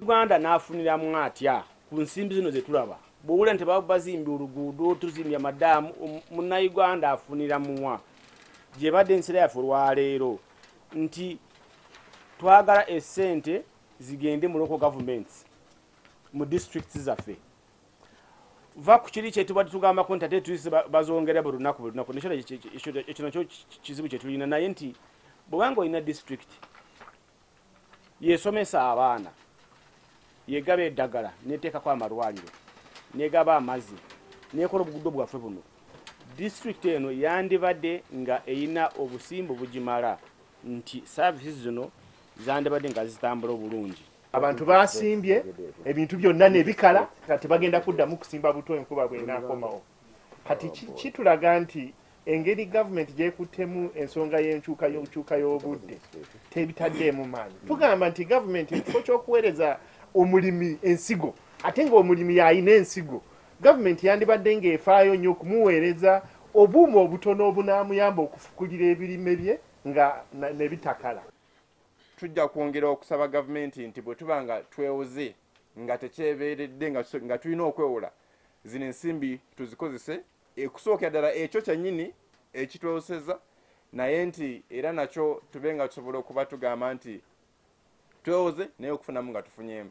uganda n'afuniramu atya ku nsimbi zino ze tulaba bwowula nti bazimbye oluguudo tuzimbye amadaamu um, munnayuganda afunira muwa gyebadde ensira yaffe olwaleero nti twagala esente zigende mu local governments mu districts zaffe va ku kiri kyetubadde tugambako nti ate tuise bazongera buli lunaku buli lunaku nekyo ekyo nakyo kizibu kyetulina naye nti bwebanga olina disitulikiti yesomesa abaana yegaba eddagala neteekako amalwaliro negaba amazzi nekola obuguddo bwaffe buno disitulikiti eno yandibadde nga erina obusimbu bugimala nti saavisi zino zandibadde nga zitambula obulungi abantu basimbye ebintu byonna nebikala nga tebagenda kuddamu kusimba buto enkuba bwenakomawo kati kitulaga nti engeri gavumenti gyekuttemu ensonga y'enkyuka y'okukyuka y'obudde tebitaddeemu maanyi tugamba nti gavumenti ekifo ky'okuweereza omulimi ensigo ate ng'omulimi yalina ensigo gavumenti yandibadde ng'efaayo nnyo okumuweereza obuuma obutono obunaamuyamba okufukulira ebirime bye nga nebitakala tujja kwongera okusaba gavumenti nti bwe tuba nga twewoze nga tekyebeeredde nga tulina okwewola zino ensimbi tuzikozese ekusookera ddala ekyo kyennyini ekitwewoseza naye nti era nakyo tube nga tusobola okuba tugamba nti twewoze naye okufunamu nga tufunyemu